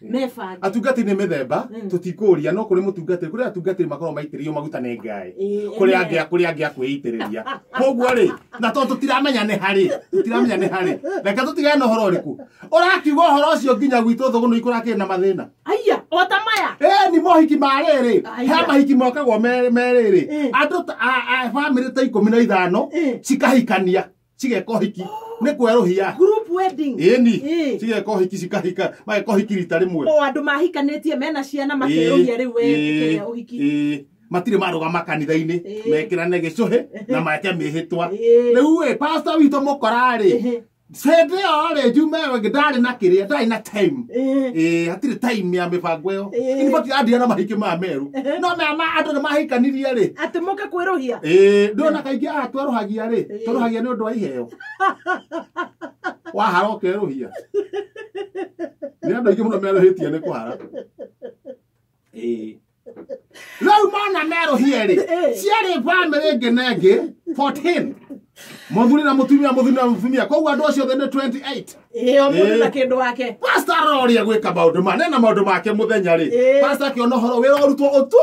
mebange atungatĩri nĩ mĩthemba Mm. tũtikũria no kũrĩ mũtungatĩri kũrĩ atungatĩri makoragwo maitĩrĩrio maguta nĩ ngai Ĩĩ, kũrĩ amen. angĩ kũrĩ angĩ akwĩitĩrĩria koguo rĩ na tondũ tũtiramenya nĩ harĩ tũtiramenya nĩ harĩ reke tũtigane na ũhoro ũrĩkũ ũrakiuga ũhoro ũcio nginya gwitũ thũgũ nĩ ikũrakĩrĩ na mathĩna aya ota maya ĩĩ ni mohiki ma rĩrĩ Aya. he mahiki mokagwo me- me rĩrĩ Ĩĩ. andũ ta- a- a- bamĩrĩ ta ikũmi na ithano Ĩĩ. cikahikania cigeka ũhiki nĩ kwerũhia group wedding ĩni Ĩ. cigeka ũhiki cikahika mageka ũhiki rita rĩmwe o andå mahikanĩtie mena ciana makerũhia rä u wekĩrĩa å hiki Ĩĩ. matirĩ marũgama kanitha-inĩ Ĩĩ. mekĩrane gĩcũhĩ na make mĩhĩtwa Ĩĩ. rĩu ĩ pasta witũ mũkorarĩ Ĩhĩ. hĩndĩ ĩyo rĩ njume ĩngĩ ndarĩ na kĩrĩa ndarĩ na time Ĩĩ. Ĩĩ, hatirĩ time ya mĩbango ĩyo Ĩĩ. ini matirandira na mahiki ma meru no mea ma andũ nĩ mahikanirie rĩ atä må ke kwä rå hia ĩĩ ndona kaingĩ atwerũhagia rĩ tũrũhagia nĩ ũndũ wa iheo wahara ũkerũhia nĩ andũ aingĩ mũno merũhĩtie nĩ kũhara Ĩĩ. rĩu mona merũhie rĩ ciarĩ bamĩrĩ ĩngĩ na ĩngĩ 14 mũthuri na mũtumia mũthuri na mũtumia koguo andũ acio othe nĩ 28 ĩĩ o mũndũ na kĩndũ wake pasta aroria gwĩka maũndũ ma nena maũndũ make mũthenya rĩ Ĩĩ. pasta akĩona ũhoro wĩra ũrutwo ũtu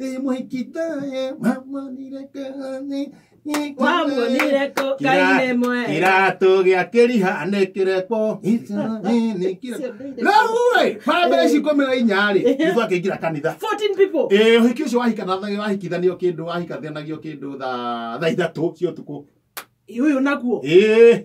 Ĩ mũhikita ĩ mamwanire kanĩ. wamwonire kũ kainĩ mwe kĩratũ gĩa kĩriha nĩ kĩreko Israeli kĩreko. Rĩu-ĩ, bambe ici ikũmi na inya-rĩ, nĩ twakĩingĩra kanitha 14 people Ĩĩ, ũhiki ũcio wahikanathagio- wahikithanio kĩndũ wahikathanagio kĩndũ thaa thaa ithatũ cia ũtukũ uyu naguo Ĩĩ,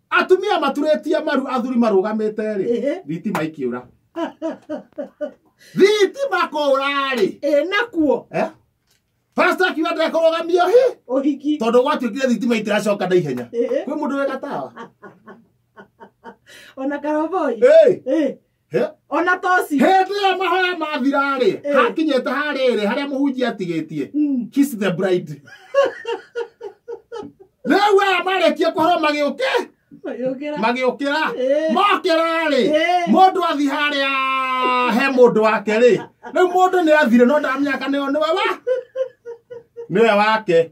atumia maturĩtie maru athuri marũgamĩte-rĩ Ehe. thitima ikĩũra thitima kũũra-rĩ ĩ nakuo eh? pasta akiuga ndekũrũgamio hi ũhiki tondũ gwatuĩkire thitima itiracoka na ihenya Ehe. kwĩ mũndũ wĩ gatawa ona karoboi Hey, Ĩ, He? ona toci hĩndĩ ĩrĩa mahoya mathira-rĩ Eh. hakinyĩte harĩrĩ harĩa mũhunjia atigĩtie Mm. kiss the bride rĩu aya marĩkie kũhoro magĩũke Magĩũkĩra. magĩũkĩra Eh. mokĩra-rĩ Eh. mũndũ athi harĩa he mũndũ wake rĩ rĩu mũndũ nĩ athire no ndamenya kana ĩyo nĩwe wa nĩwe wake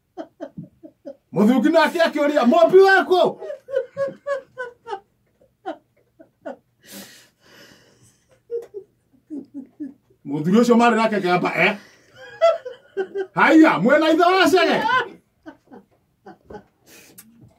mũthungi nake akĩũria mũmbi waku mũthuri ũcio marĩ nake kĩamba e haiya mwena ithe wa cege